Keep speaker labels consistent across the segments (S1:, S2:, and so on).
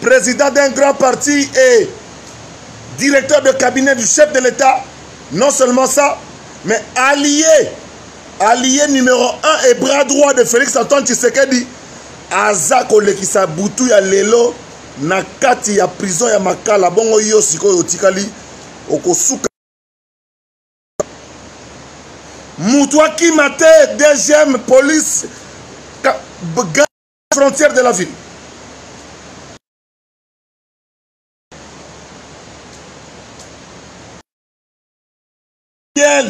S1: président d'un grand parti et directeur de cabinet du chef de l'État. Non seulement ça, mais allié, allié numéro 1 et bras droit de Félix Antoine Tshisekedi, aza kolekisa butu ya lelo na kati ya prison ya makala bongo yo sikoyo otikali okosuka moto akima te deuxième police frontière de la ville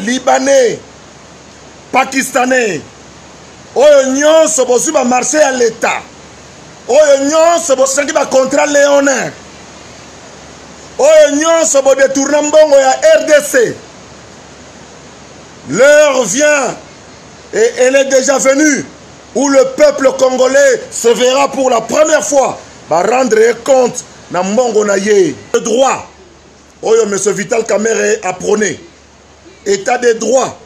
S1: libanais pakistanais oyo nyonso bozwi bamarché ya leta oyo nyonso bosengi bacontrat leonin oyo nyonso bodetourna mbongo ya rdc l'heure vient et elle est déjà venue où le peuple congolais se verra pour la première fois ba rendre ye compte na mbongo na ye de droit oyo monsieur vital kamere aprone état de droit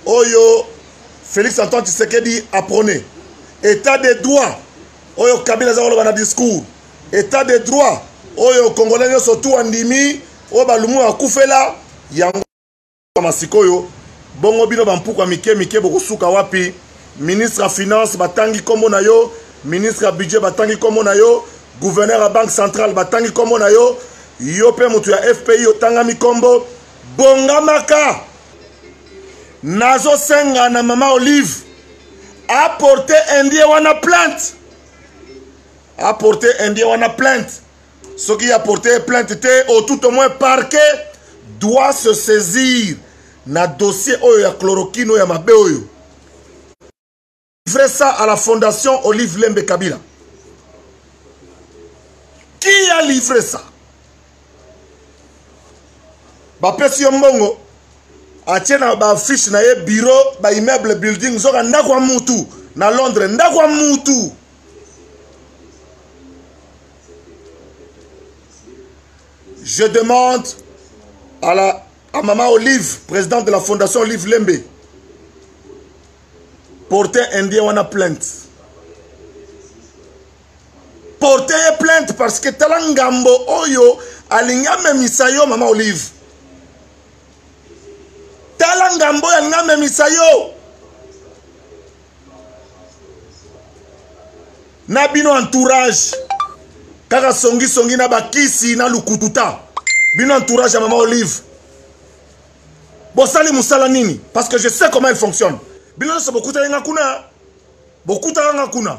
S1: oyo félix antoine tshisekedi aprone état de droit oyo kabila aza koloba na discours état de droit oyo congolais nyonso tu andimi oyo balumu bakufela yango kama sikoyo bongo bino bampuka mike mike bokosuka wapi ministre ya finance batangi nkombo na yo ministre ya budget batangi nkombo na yo gouverneur ya banque centrale batangi nkombo na yo yo mpe moto ya fpi otangami nkombo bongamaka nazosenga na mama olive aporte indien wana plainte aporte indien wana plainte soki ya porter plainte te au tout au moins parquet doit se saisir na dossier oyo ya chloroquine oyo ya mabe oyo livrer ça à la fondation olive lembe kabila qui a livré ça bapesi yo mbongo atie na baaffiche na ye bureau baimmeuble building zoka ndako ya mutu na londres ndako ya mutu Je demande à, la, à Maman Olive, présidente de la Fondation Olive Lembe, porter Indien wana plainte. Porter plainte parce que tala ngambo oyo alingi amemisa yo Maman Olive. Tala ngambo oyo alingi amemisa yo. na bino entourage kaka songisongi na bakisi na lukututa bino entourage ya mama olive bosali mosala nini parce que je sais comment il fonctionne bino nyonso bokutaki nga kuna bokutaka nga kuna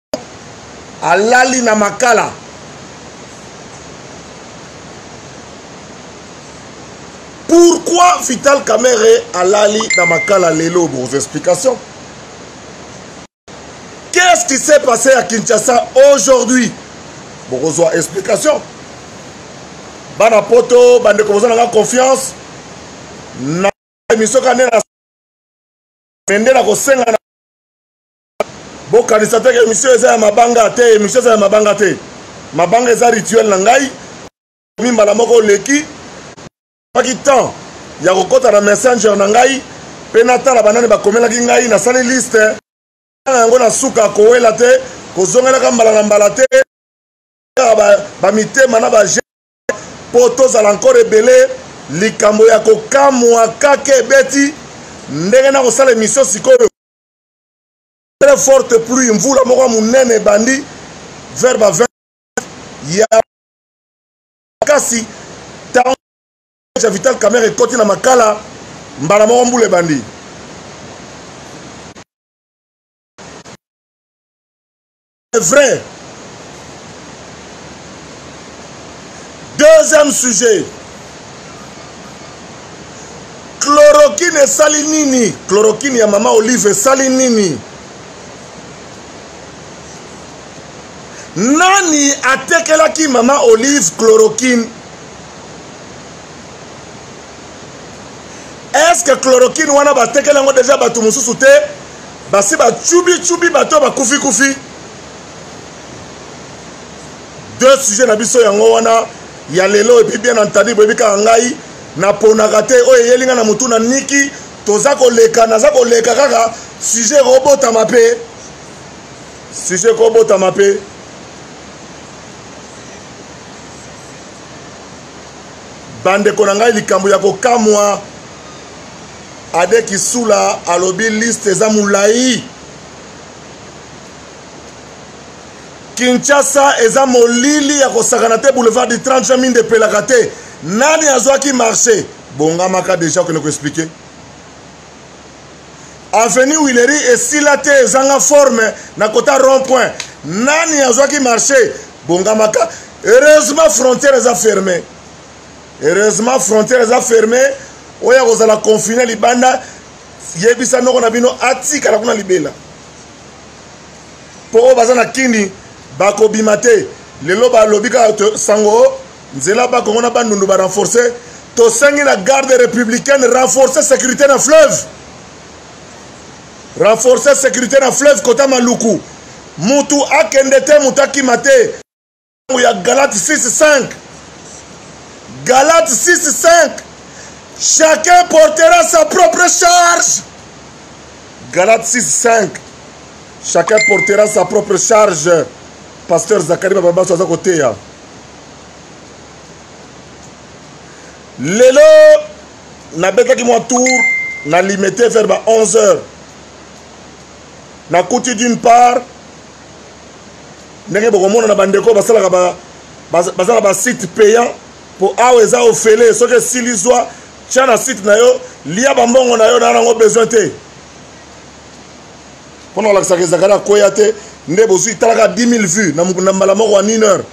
S1: alali na makala pourquoi vital kamere alali na makala lelo bos explications qu'est-ce qui s'est passé à kinshasa aujourd'hui bokozwa explication bana poto bandeko boza nanga confiance na emission kande na mende na kosenga na bokanisa te ke emission eza ya mabanga te emission eza ya mabanga te mabanga eza rituel na ngai mi mbala moko oleki paki temps ya kokɔta na messenger na ngai mpe natala banani bakomelaki ngai nasali liste na yango na suka kowela te kozongelaka mbala na mbala te kaka bamitema na baje mpo tozala nkore ebele likambo ya kokamwa kaka ebeti ndenge nakosala emisio sikoyo très forte pluie mvula moko ya monene ebandi vers ba 20 ya makasi ntango ya vital camere ekoti na makala mbala moko mbula ebandi C'est vrai. Deuxième sujet. Chloroquine esali nini? Chloroquine ya mama Olive esali nini? Nani atekelaki mama Olive chloroquine? Est-ce que chloroquine wana batekeli yango deja bato mosusu te? basi bacubicubi bato ya bakufikufi deux sujet na biso yango wana ya lelo epuis bien entendu boyebi kaka ngai naponaka te oyo eyeli ngai na motu na niki toza koleka naza koleka kaka sujet ekobotama mpe sujet ekobotama mpe bandeko na ngai likambo ya kokamwa ade kisula alobi liste eza molai kinshasa eza molili ya kosakana te boulevard du 30 juin minde epelaka te nani azwaki marché bongamaka deja okende koexplike avenue wileri esila te ezanga forme na kota rond point nani azwaki marché bongamaka heureusement frontière eza ferme heureusement frontière eza ferme oyo akozala confine libanda yebisa noko na bino atikala kuna libela mpo oyo baza na kini bakobima te lelo balobi kaka sango o nzela bakongo na bandundu barenforce tosengi na garde républicaine renforce sécurité na fleuve renforce sécurité na fleuve kota maluku mutu akende te mutu akima te ntango ya galate 65 galate 65 chacun portera sa propre charge galate 65 chacun portera sa propre charge pasteur zakari bababaso aza koteya lelo nabetaki mwa tour na limete vers ba 11 heures nakuti d'une part ndenge bokomona na bandeko basalaka ba, baza na basite payant mpo awa eza ofele soki esili zwa tya na site na yo lia bambongo na yo na yango besoin te mpo na kolakisaka ezalaka na koya te nde bozwi talaka 10 000 vues na mbala moko ya 1 heure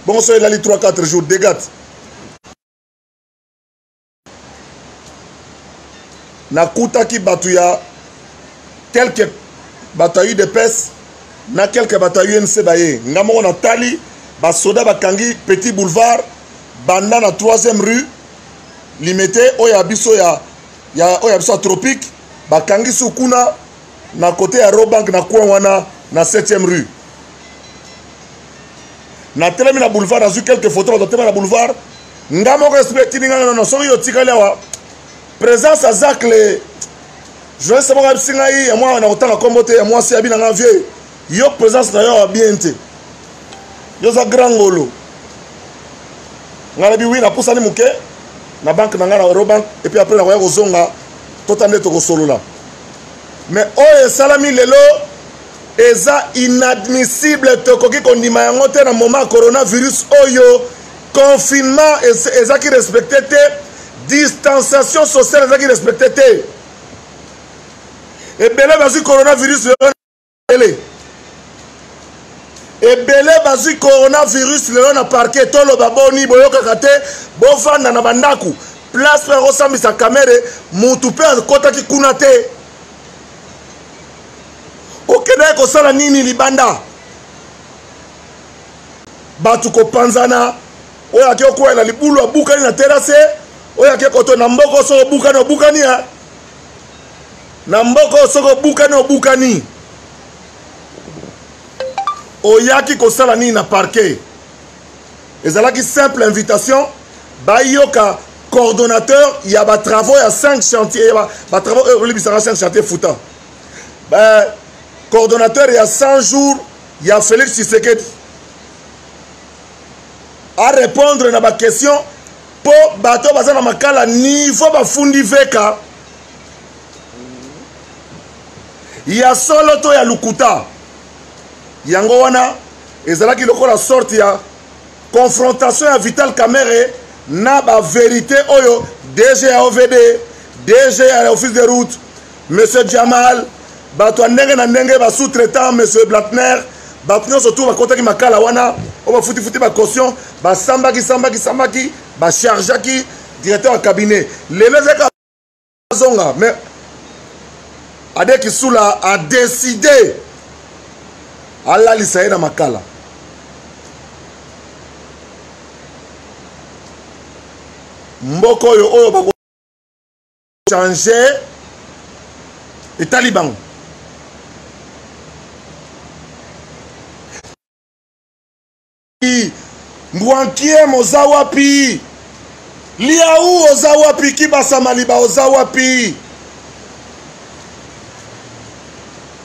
S1: bongo so elali 3 4 jours degate nakutaki bato ya quelque bato ya udps na quelque bato ya unc baye nga moko natali basoda bakangi petit boulevard banda na 3e rue limete oyo ya biso ya, ya oyo ya biso ya tropique bakangi su kuna na kote ya robank na coin wana na 7e rue natelemi na boulevard nazwi quelque photo bato batema na boulevard nga moko esprit etindi nga nono soki yo otikali awa présence ya zacle journaliste moko abisi ngai ya mwana na kotanga nkombo te ya mwasi abi na nga vieux yo présence na yo awa bien te yo oza grand ngolo ngai nabi wi napusani moke na banke na ngai na eurobank epuis apres nakoya kozonga tota nde tokosolola mais oyo esalami lelo eza inadmissible tokoki kondima yango te na moment ya coronavirus oyo confinement ezaki respecte te distanciation sociale ezaki respecte te ebele bazwi coronavirus lelo ele ebele bazwi coronavirus lelo na parke toloba boni boyokaka te bofanda na bandako place mpe akosambisa kamere motu mpe akotaki kuna te okendaki kosala nini libanda bato kopanzana oyo ake okwela na libulu abukani na terase oyo ake koto na mboko soko obukani obukani ya na mboko soko obukani obukani oyaki kosala nini na parke ezalaki simple invitation bayoka coordonnateur ya batravaux ya 5 chantier ya batravaux oyo olibisaka 5 chantier futa euh, coordonnateur ya 100 jours ya félix tshisekedi arépondre na baquestion mpo bato oyo baza na makala nivo bafundi veka ya solo to ya lokuta yango wana ezalaki lokola sorte ya confrontation ya vital kamere na baverité oyo dg ya ovd dg ya office de route monsieur jamal bato ya ndenge na ndenge basous traitant monsieur blatner bato nyonso tour bakotaki makala wana oyo bafutifuti bacaution basambaki sambaki sambaki bachargeaki directeur ya cabinet lelo ezalaka azonga mais ade kisula a décidé alalisa ye na makala mboka oyo oyo bakochange etali bango mbwankiem oza wapi liau oza wapi kibasamaliba oza wapi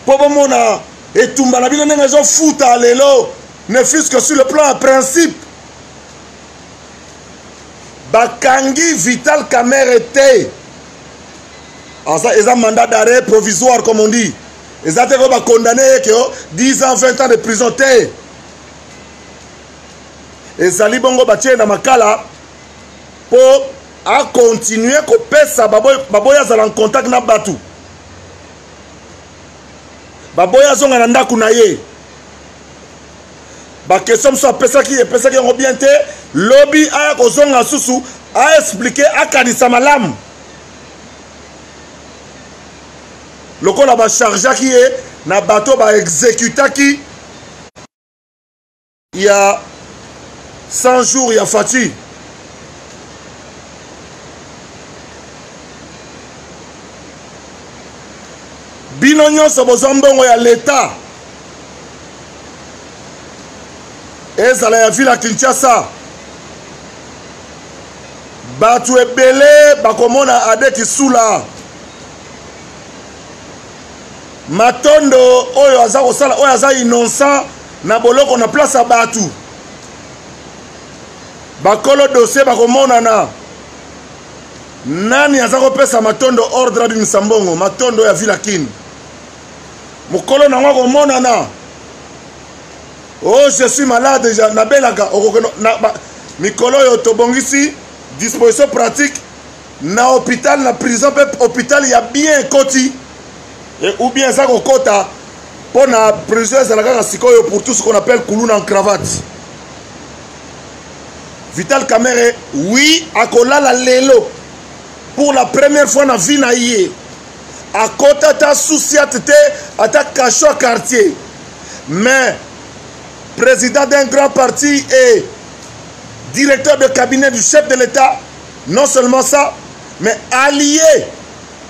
S1: mpo bomona etumba na bino ndenge ezofuta lelo ne fils que sur le plan ya principe bakangi vital camere te aza eza mandat d'arrêt provisoire comme on dit eza te ko bacondamne ye ke 10 ans 20 ans de prison te ezali bongo batie na makala mpo akontinue kopesa baboya azala ncontact na bato baboya azonga na ndako na ye bakestio mosusu apesaki epesaki yango bien te lobi aya kozonga susu aexplike akanisa malamu lokola bachargeaki ye na bato baexekutaki ya 100 jours ya fati bino nyonso bozwa mbongo ya leta ezala ya ville ya kinshasa bato ebele bakomona ade kisula matondo oyo aza kosala oyo aza innocent na boloko na place ya bato bakolo dossier bakomonana nani aza kopesa matondo ordre abimisa mbongo matondo ya villa kin mokolo nango akomonana oh je suis malade nabelaka okokeno mikolo oyo tobongisi disposition pratique na hôpital na prison mpe hôpital ya bien ekoti e, ou bien eza kokota mpo na prison ezala kaka sikoyo pour tout ce qu'on appelle kuluna en cravate vital camere oui akolala lelo pour la première fois na vie na ye akota ata souciate te ata cacho ya quartier mais président d'un grand parti et directeur de cabinet du chef de l'état Non seulement ça, mais allié,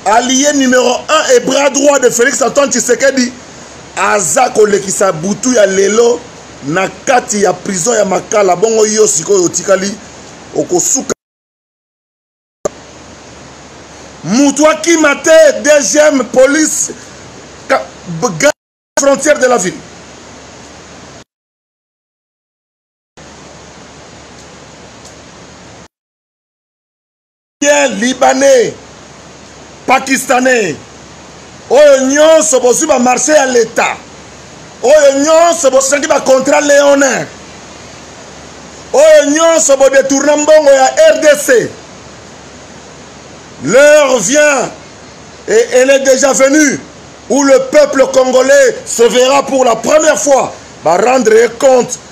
S1: allié numéro 1 et bras droit de Félix Antoine Tshisekedi, aza kolekisa butu ya lelo na kati ya prison ya Makala. Bongo yo sikoyo otikali okosuka mutu akima te deuxième police frontière de la ville libanais pakistanais oyo nyonso bozwi bamarché ya leta oyo nyonso bosengi bacontrat leonin oyo nyonso bodetourna mbongo ya rdc l'heure vient et elle est déjà venue où le peuple congolais se verra pour la première fois ba rendre compte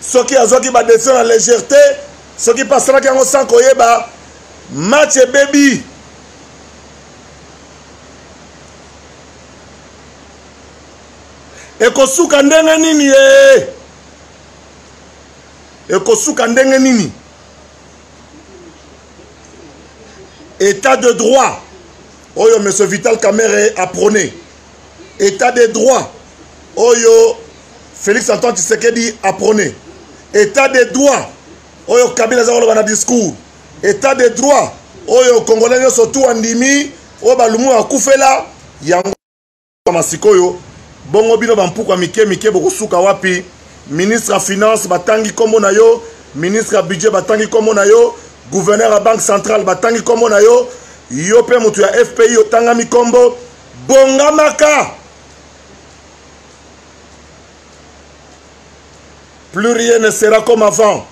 S1: soki azwaki badesizio na légèrete soki mpe asalaki yango sans koyeba match ebebi ekosuka ndenge nini ye ekosuka ndenge nini état de droit oyo monsieur vital kamere aprone état de droit oyo félix antoine tshisekedi aprone état de droit oyo kabila aza koloba na discours état de droit oyo congolais nyonso tu andimi oyo balumu akufela yango masikoyo bongo bino bampuku ya mike mike bokosuka wapi ministre ya finance batangi nkombo na yo ministre ya budget batangi nkombo na yo gouverneur ya banque centrale batangi nkombo na yo yo mpe moto ya fpi otangami nkombo bongamaka plus rien ne sera comme avant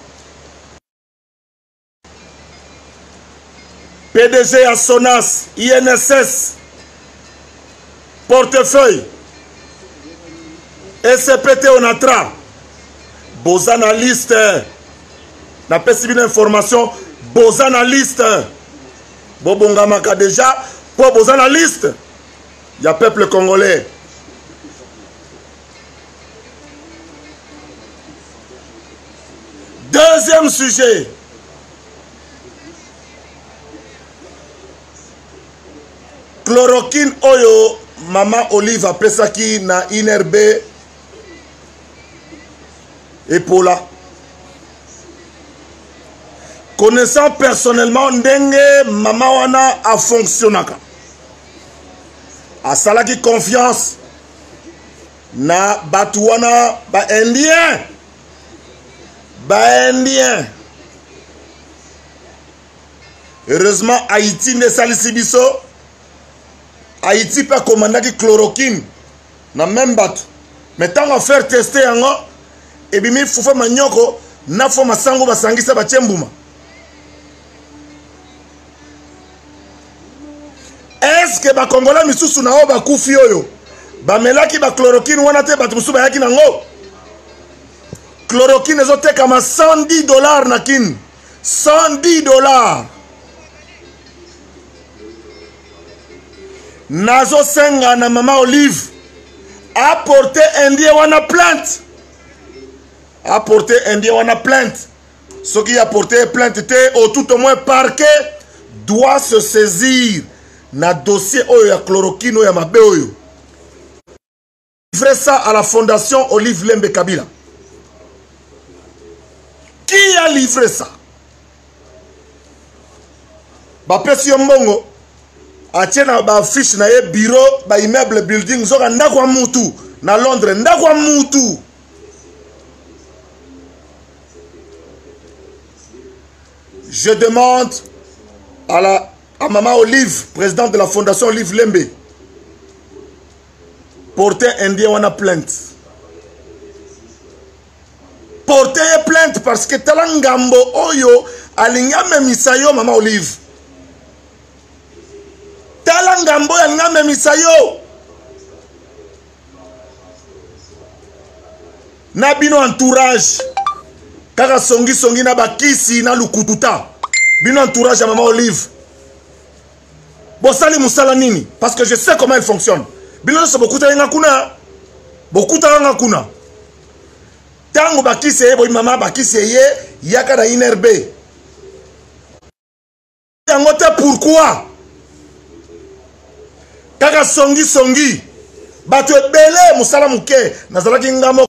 S1: pdg ya sonas inss portefeuille ecpt onatra boza na liste napesi bino information boza na liste bobongamaka deja mpo boza na liste ya peuple congolais deuxième sujet chloroquine oyo mama olive apesaki na inrb epola connaissant personnellement ndenge mama wana afonctionnaka asalaki confiance na bato wana baindien baindien heureusement haïti nde esalisi biso haïti mpe akomandaki chloroquine na meme bato me ntango affaire teste yango ebimi fufa manyoko na fo masango basangisa batie mbuma eske bakongola misusu na oyo bakufi oyo bamelaki bachloroquine wana te bato mosusu bayaki nango chloroquine ezotekama 110 dollar na kine 110 dollar nazosenga na mama olive aporte indien wana plainte aporte indien wana plainte soki aporte ye plainte te au tout au moins parquet doit se saisir na dossier oyo ya chloroquine oyo ya mabe oyo livrer ça à la fondation Olive Lembe Kabila. Qui a livré ça bapesi yo mbongo atie na baaffiche na ye bureau baimmeuble building zoka ndako ya mutu na londres ndako ya mutu je demande à, la, à maman olive présidente de la fondation olive lembe porter indien wana plainte porter ye plainte parce que tala ngambo oyo alingi amemisa yo mama olive tala ngambo oyo alingi amemisa yo na bino entourage kaka songisongi na bakisi na lukututa bino entourage ya mama olive bosali musala nini parce que je sais comment il fonctionne bino nyonso bokutaki nga kuna bokutaka nga kuna ntango bakisi eye boyimama bakisi eye yaka na inrb yango te pourkui kaka songisongi bato ebele mosala moke nazalaki nga moko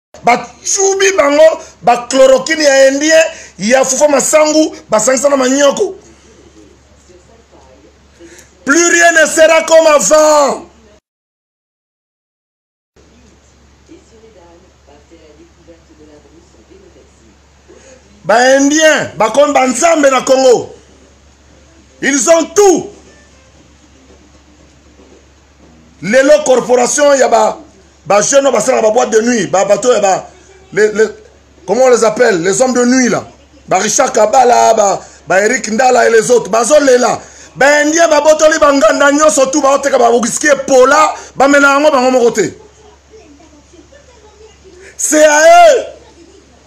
S1: bacubi bango bachloroquine ya indien ya fufa masangu basangisa na manyoko plus rien ne sera comme avant baindien bakomi banzambe na congo ils ont tout lelo corporation ya ba ba jeune oyo basalaka ba boîte de nuit ba bato ya ba les, les, comment on les appelle les hommes de nuit là ba richard kabala ba, ba eric ndala et les autres bazolela baindien babotoli banganda nyonso tu baoteka bawiski epola bamela yango bango moko te c'est à eux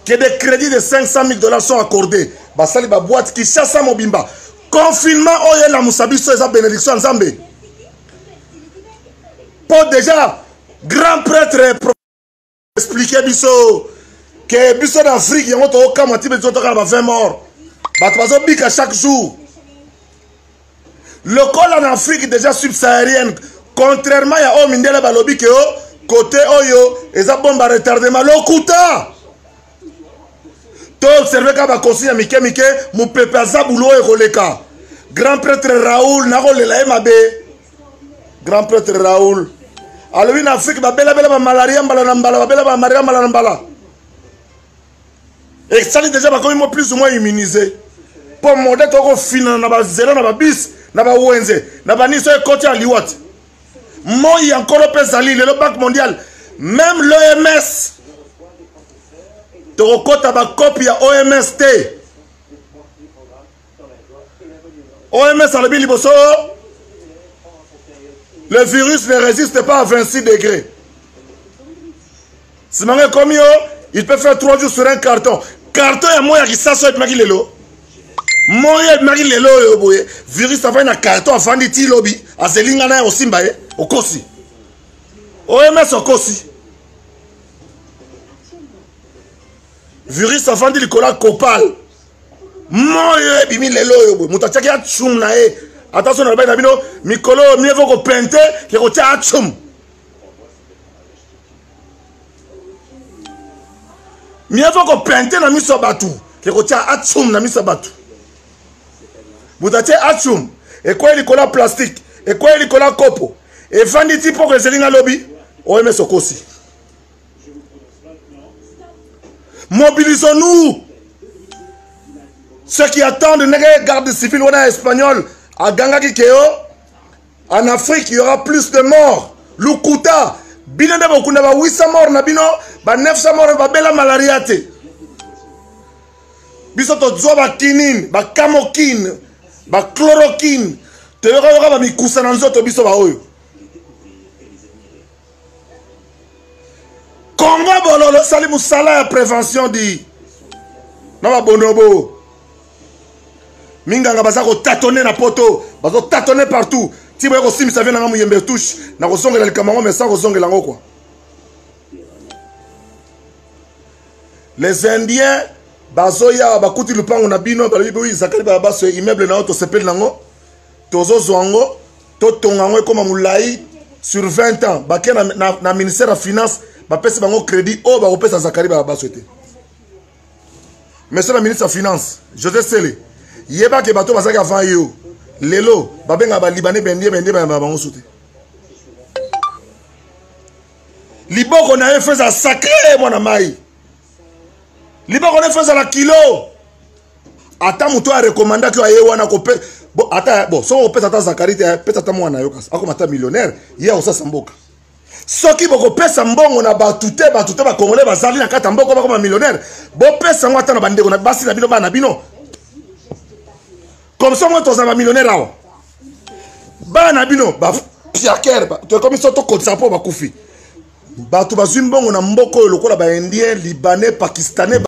S1: que des crédits de 500 000 dollars sont accordés basali baboite kinshasa mobimba confinement oyo elamusa biso eza bénédiction ya nzambe mpo déjà grand prêtre explike biso ke biso na afrique yango tokokamwa ti biso tokala ba 20 mort bato bazobika chaque jour lokola na afrique déjà subsaharienne contrairement ya oyo mindele balobi ke o kote oyo eza bomba retardement lokuta toobserve kaka bakonsi ya mike mike mopepe aza bulo oyo ekoleka grand prêtre raoul nakolela ye mabe grand prêtre raoul alobi na afrike babelabela bamalaria mbala na mbala babela bamalaria mbala na mbala esali deja bakomi mo plus ou moins immunise mpo mode tokofinana na bazela na babisi na bawenze na baniso ekoti ya liwati moi ya nkolo mpe ezali lelo banque mondiale meme l'oms tokokɔta bakopi ya oms te OMS alobi liboso le virus ne résiste pas à 26 degrés simanga ekomi yo il peut faire 3 jours sur un carton carton ya moi ya kisasa oyo ebimaki lelo moi oyo ebimaki lelo oyo boye virus afandi na carton afandi ti lobi azeli ngai naye osimba ye okosi oms okosi virus afandi likolo ya copal moyo ebimi lelo oyo boye moto atiaki atsum na ye ata so nalobaki na bino mikolo oyo mieux vaut kopente ke kotya atsum mieux vaut kopente na miso ya bato ke kotya atsum na miso ya bato moto atye atsum ekwei likolo ya plastike ekwei likolo ya kopo efandi ti mpoko ezeli nga lobi oms okosi Mobilisons-nous. Ceux qui attendent les garde civile on a espagnol à Ganga Kikeo, en Afrique, il y aura plus de morts. Lukuta, bino nde bokunda ba 800 morts na bino, ba 900 morts ba bela malaria te. Biso to zwa ba kinin, ba kamokin, ba chloroquine, te yoka yoka ba mikusa na nzoto biso ba oyo. Congo bololo sali musala ya prévention di na babonobo minganga baza kotatone na poto bazotatone partout ti boye kosimbisa vie nanga moyembe touche na kozongela likambo yango mais sans kozongela yango kua les indiens bazoya bakuti lupango na bino balobi boyi zakali balabaso immeuble na yo tosepeli nango tozozwa yango totonga yango ekoma molai sur 20 ans bake na, na, na ministère ya finance bapesi bango crédit oyo bakopesa zakari babaso te monsieur le ministre ya finance josé sele yeba ke bato bazalaki avant ye o lelo babengaka balibane bendie bendie bayamba bango so te liboko na ye feza sacre mwana mai liboko nefu ezala kilo ata moto oyo arekomandaki oyo aye wana kope bo ata bo soki okopesa ata zakari te pesa ata mwana yo kasi akoma ata millionnaire ye akosasa mboka soki bokopesa mbongo na bato te bato te bakongole bazali na kati ya mboko bakoma millionnaire bopesa yango ata na bandeko na basi na bino bana na bino comme ça moi tozala bamillionnaire awa bana na bino bapiakere tokomi so tokotisa mpo bakufi bato bazwi mbongo na mboka oyo lokola baindien libanais pakistanais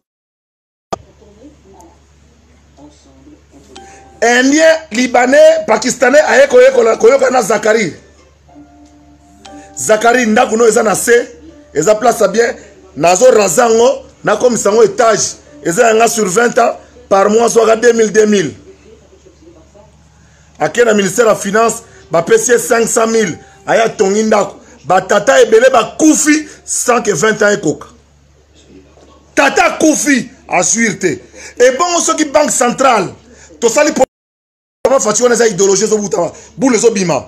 S1: indien libanais pakistanais aye koyoka na zakari zakari ndako no eza na se eza place ya bien nazo raza yango nakomisa yango etage eza yanga sur 20 ans par mois zwaka 2000 2000 ake na ministère ya finance bapesi ye 500 000 aye atongi ndako batata ebele bakufi sans que 20 ans ekoka tata akufi assuire te ebongo soki banque centrale tosali papa faci wana eza idéologie ezobutama bule ezobima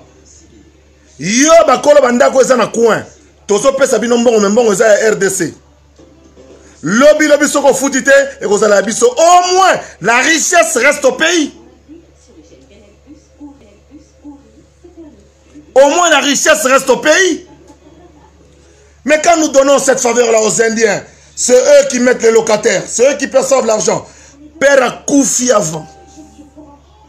S1: yo bakolo bandako eza na coin tozopesa bino mbongo me mbongo eza ya rdc lobi lobi soki ofuti te ekozala ya biso au moins la richesse reste au pays au moins la richesse reste au pays mais quand nous donnons cette faveur là aux indiens c'est eux qui mettent les locataires c'est eux qui perçoivent l'argent père akufi avant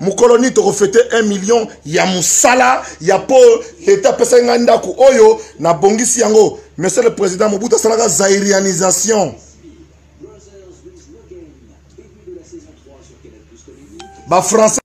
S1: mokolo nini tokofete 1 million ya mosala ya mpo leta apesaki ngai ndako oyo nabongisi yango monsieur le président mobutu asalaka zairianisation bafrançais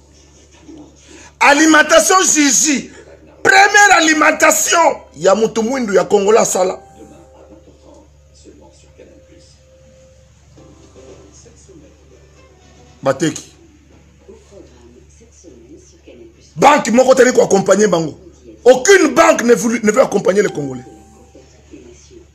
S1: alimentation jiji première alimentation ya motu mwindu ya kongola asala bateki banque moko tali koaccompagne bango aucune banque ne veut, ne veut accompagner les congolais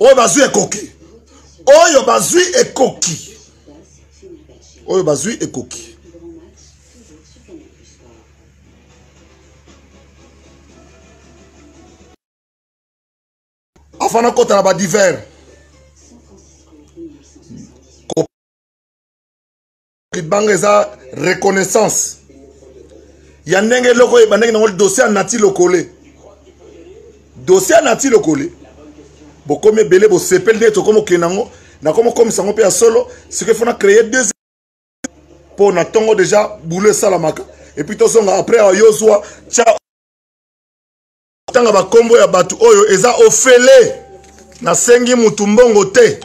S1: oyo bazwi ekoki oyo bazwi ekoki oyo bazwi ekoki afana akota na badivers libanga eza reconnaissance ya ndenge eloko ebandaki nango dossier ya nati lokole dossier ya nati lokole bokomi ebele bosepeli nde tokomi okende yango nakomi okomisa yango mpe ya solo sikoy fona créer deux mpo na ntongo deja boulot esalamaka epuis tozonga après awa yo zwa tya tanga bakombo ya bato oyo eza ofele nasengi motu mbongo te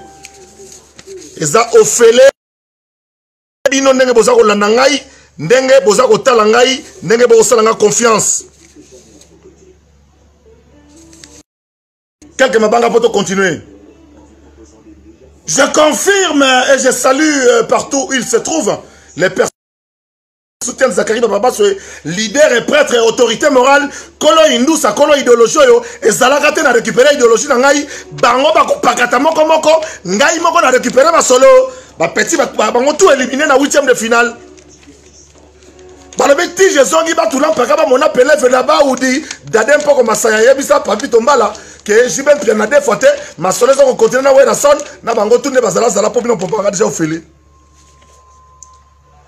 S1: eza ofele bino ndenge boza kolanda ngai ndenge boza kotala ngai ndenge bokosala ngai confiance quelque mabanga mpo tocontinue je confirme et je salue euh, partout où il se trouve les personnes soutien Zachary Bababaso leader et prêtre et autorité morale kolo indusa kolo idéologie oyo ezalaka te na récupérer idéologie na ngai bango bakopakata moko moko ngai moko na récupérer masolo bapeti bango tout éliminer na 8e de finale balobi ti ezongi batula mpaka bamona peleve na baudi dade mpoko masaya ayebisa papi tombala ke jibe mpia na defo te masolo eza kokontinue na werason na bango tu nde bazalazala mpo bino mpo banga deja ofeli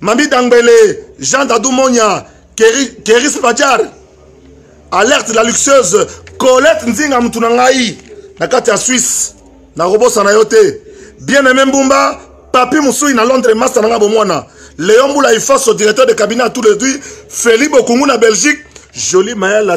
S1: Mami Dangbele, Jean Dadou Monya, Keris Padjar, Alerte la luxueuse, Colette Nzinga mutu na ngai na kati ya Suisse, na kobosa na yo te. Bien aimé Mbumba, Papi Musui na Londres, master na nga bomwana. Léon Boula Ifaso, directeur de cabinet à tous les deux, Feli Bokungu na Belgique, Jolie Maël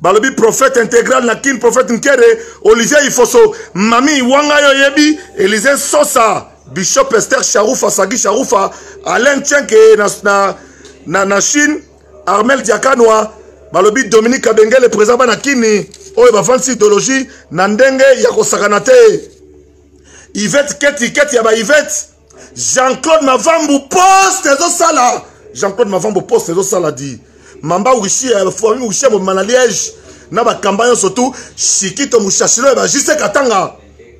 S1: balobi prophète intégral na kin prophète nkere olivier ifoso mami wanga yo oyebi elise sosa bishop ester sharufa sagi sharufa alain chenke na, na, na, na chine armel diakanwa balobi dominique kabengele présent bana kini oyo bavandisi idéologie na ndenge ya kosakana te ivete keti keti ya baivete Jean-Claude Mavambu poste ezosala Jean-Claude Mavambu poste ezosala di mamba wishi ya famille wishi ya mobima na Liège na bakamba nyonso tu shikito mushashilo ya bajise katanga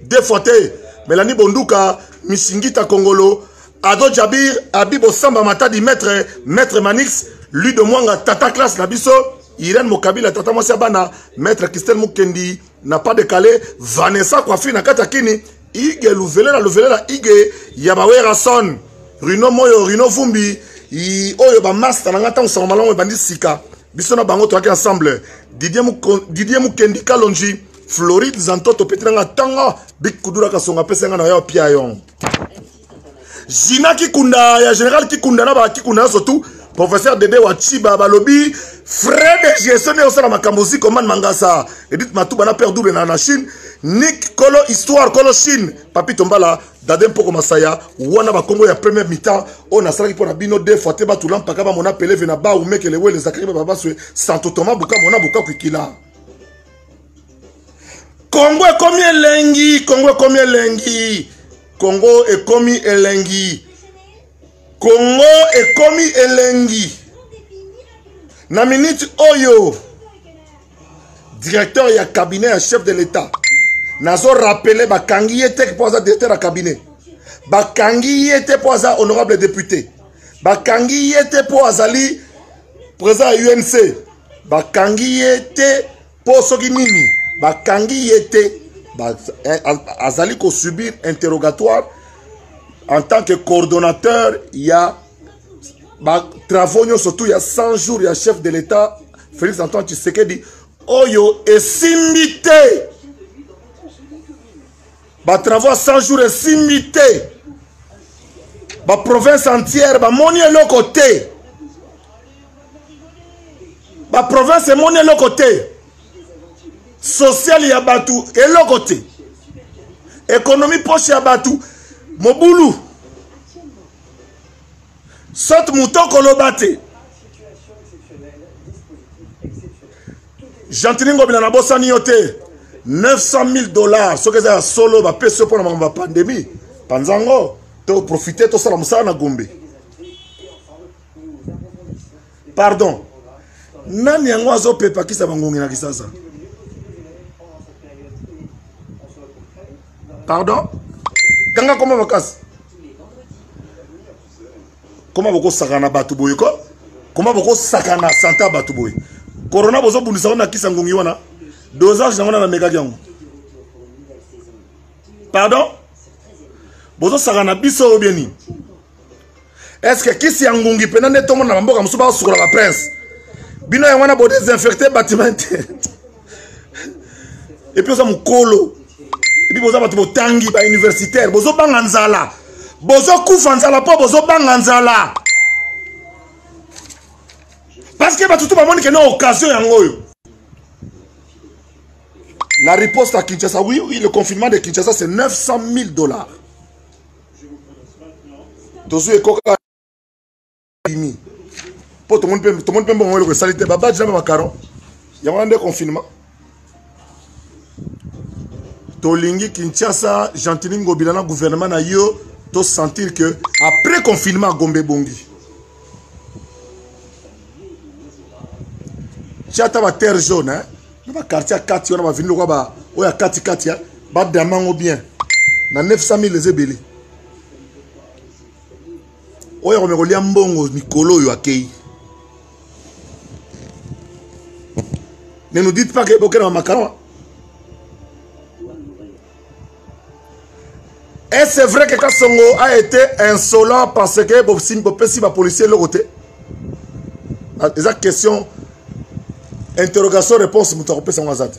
S1: deux fois te Melanie Bonduka Misingita Kongolo Ado Jabir Abibo Samba Matadi Maître Maître Manix Ludo Mwanga Tata Classe na biso Irène Mokabila Tata Mwasi ya bana Maître Christelle Mukendi na pas de kale vanessa kwafi na kati ya kini ige luvelela luvelela ige ya bawerason rino moyo rino vumbi oyo bamasta na ngai ntango sango malamu ebandi sika biso na bango toyaki ensemble didie mukendi kalonji floride zantoto peti na ngai ntanga bikudura kasonga apesa ngai na yo pia yongo jina kikunda ya général kikunda na bakikunda nyonso tu professeur dede wa chiba balobi frais de gestion nde osala makambo ozi komane mangasa edit matuba na père double na, na chine nik kolo histoire kolo chine papi tombala dade mpoko masaya wana bakongo ya première mitan oyo nasalaki mpo na bino de fois te batula mpaka bamona peleve na ba umekele wele zakaki bababaswe santo toma buka mona buka kwikila kongo ekomi elengi kongo ekomi elengi Congo ekomi elengi. Congo ekomi elengi. Na minute oyo directeur ya cabinet ya chef de l'État nazo rappeler bakangi ye te mpo aza directeur ya cabinet bakangi ye te mpo aza honorable député bakangi ye te mpo azali président ya UNC bakangi ye te mpo soki nini bakangi ye te eh, azali kosubir interrogatoire en tant que coordonnateur ya batravaux nyonso tu ya 100 jours ya chef de l'état félix antoine tshisekedi oyo esimbi te batravaux ya 100 jours esimbi te baprovince entière bamoni eloko te baprovince emoni eloko te sociale ya bato eloko te ekonomi poche ya bato mobulu sote moto okoloba te gentini ngobila nabosani yo te 900 000 dollars soki eza ya solo bapesi yo mpo na makambo ya pandemi panza yango toprofite tosala mosala na gombe pardon nani yango azopepakisa bangongi na kisasa pardon kanga koma makasi koma bokosakana na bato boye ko koma bokosakana na sante ya bato boye corona bozobundisa wana na kisa ngongi wana dosage yango na namekaki yango pardon bozosakana biso oyo bie nini estce kisi ya ngungi mpena nde tomona na bamboka mosusu baosukola baprince bino yango wana bodesinfecte batima te epuis oza mokolo epuis boza bato botangi bauniversitaire bozobanga nzala bozokufa nzala mpo bozobanga nzala parceke bato to bamoni kende occasion yango oyo la riposte à kinshasa oui oui le confinement de kinshasa c'est 900 000 dollars tozwi ekoka bimi mpo tomoni mpe mbongo eloko esali te babadi na bamakaron yango wana nde confinement tolingi kinshasa gentini ngobila na gouvernement na yo tosentir que après confinement agombe ebongi tia ata baterre jaune eh? na bakartier ya kati wana bavini lokola oyo ya katikati eh? badama yango bien na 900 000 eza ebele oyo akomeka kolia mbongo mikolo oyo akei ne nous dites pas que bokena ba makawa et c'est vrai que kasongo a été insolent parce que bopesi bapolicier eloko te ah, eza question interrogation réponse moto akopesa yango aza te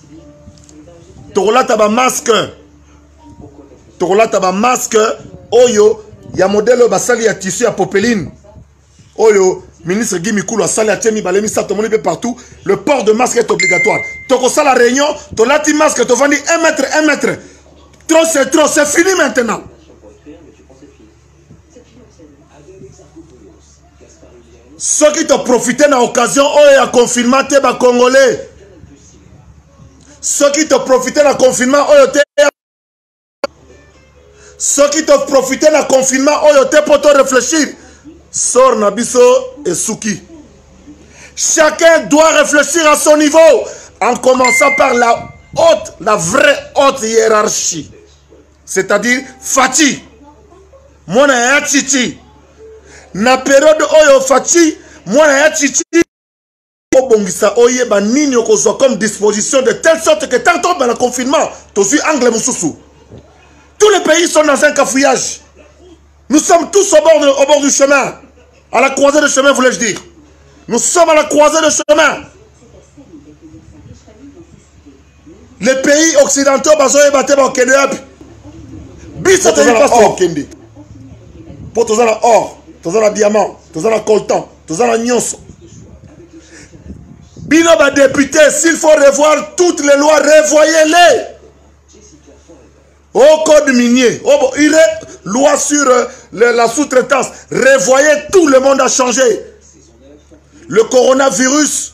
S1: tokolata bamaske tokolata bamaske oyo ya modele oyo basali ya tissu ya popeline oyo ministre guy mikulu asali atie mibale misato tomoni mpe partout le port de masque est obligatoire tokosala réunion tolati masque tovandi 1 mètre 1 mètre trop c'est trop c'est fini maintenant soki toprofite na occasion oyo ya confinement te bacongolais soki toprofite na confinement oyo te soki toprofite na confinement oyo te mpo toreflechir sor na biso esuki chacun doit réfléchir à son niveau en commençant par la haute la vraie haute hiérarchie c'est-à-dire faci mwana ya cici na periode oyo faci mwana ya cici obongisa oyeba nini okozwa comme disposition de telle sorte que tant tobanda confinement tozwi angle mosusu tous les pays sont dans un cafouillage nous sommes tous au bord, de, au bord du chemin à la croisée de chemin voulais-je dire nous sommes à la croisée de chemin les pays occidentaux bazoyeba te bakende yapi biso toyikende mpo toza na or toza na diamant toza na coltan toza na nyonso bino badepute s'il faut revoir toutes les lois revoyez-les au code minier au, oh, il est, loi sur euh, le, la sous-traitance revoyez tout le monde a changé le coronavirus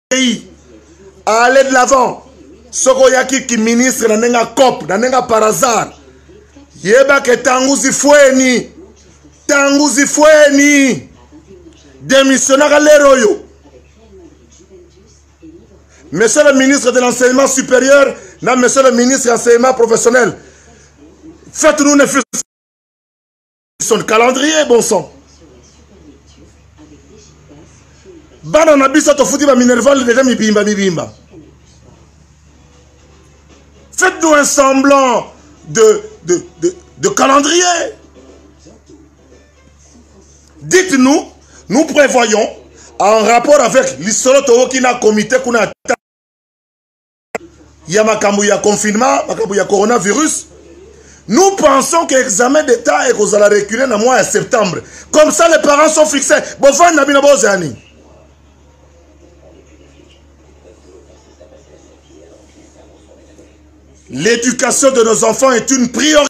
S1: pays à aller de l'avant soki oyaki kiministre na ndenge ya cop na ndenge ya par hasard yebake ntango zifweni ntango zifweni demissionnaka lere oyo monsieur le ministre de l'enseignement supérieur na monsieur le ministre ya enseignement professionnel faites nous ne son calendrier bon sang bana na biso tofuti baminerval deja mibimba mibimba faites-nous un semblant de, de, de, de calendrier dites-nous nous prévoyons en rapport avec lisolo towoki na comité kuna ya makambo ya confinement makambo ya coronavirus nous pensons que examen d'état ekozala reculer na mois ya septembre comme ça les parents sont fixés bovandi na bino bozala nini l'éducation de nos enfants est une priorité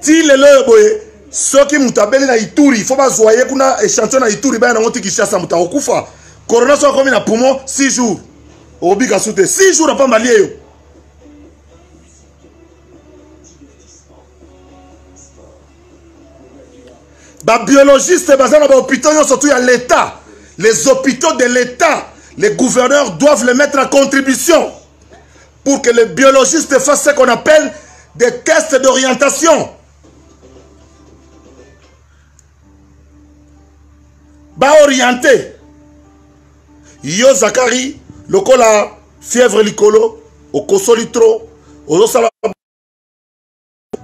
S1: ti lelo oyo boye soki moto abeli na ituri fo bazwa ye kuna échantillon na ituri baya nango ti kinshasa moto akokufa corona soki akomi na poumon 6 jours okobika su te 6 jours apamba lie yo babiologiste baza na bahôpitaux nyonso tu ya l'état les hôpitaux de l'état les gouverneurs doivent les mettre à contribution pour que les biologistes fassent ce qu'on appelle des tests d'orientation. Ba orienté. Yo Zakari, lokola fièvre likolo, okosoli trop, ozosala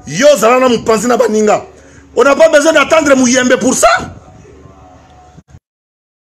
S1: yo zala na mopanzi na baninga on n'a pas besoin d'attendre muyembe pour ça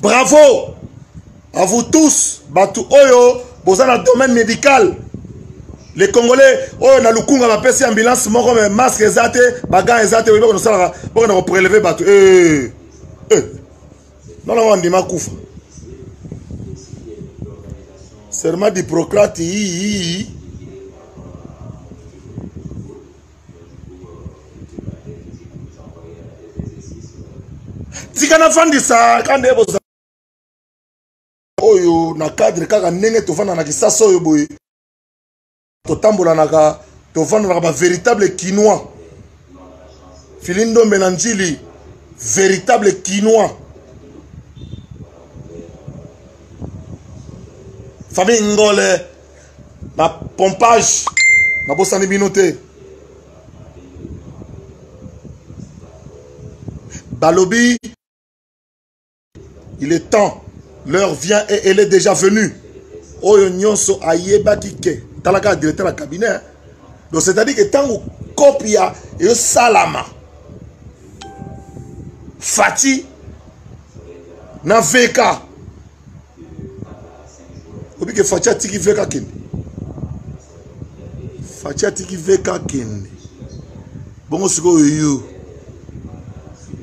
S1: bravo à vous tous bato oyo boza na domaine médical les congolais oyo na lukunga bapesi ambulance moko me masque eza te bagan eza te oyebaka nosalaka bokenda kopreleve bato eh, eh. nalongo andima kufa serment d'hippocrate yii tika nafandisa ka nde boza oyo na cadre kaka ndenge tofanda na kisasa oyo boye totambolanaka tovandanaka bavéritable kinois fili ndombe na njili véritable kinois famille ngole na pompage nabosani bino te balobi il est temps l'heure vient et elle est déjà venue oyo nyonso ayebaki ke talaka directeur ya cabinet donc c'est-à-dire que ntango kopi ya eyosalama fati na veka obi ke faci atiki veka kende faci atiki veka kende bongo sikoyo yo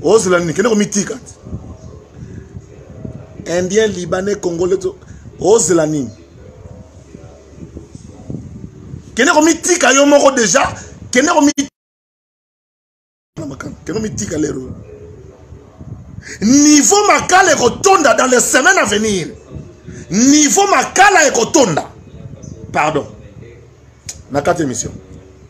S1: ozela nini kende komitika te indien libanais congolais to ozela nini kende komitika yo moko deja kende komi na makala keno mitika lero niveau makala ekotonda dans les semaines à venir niveau makala ekotonda pardon na kati émission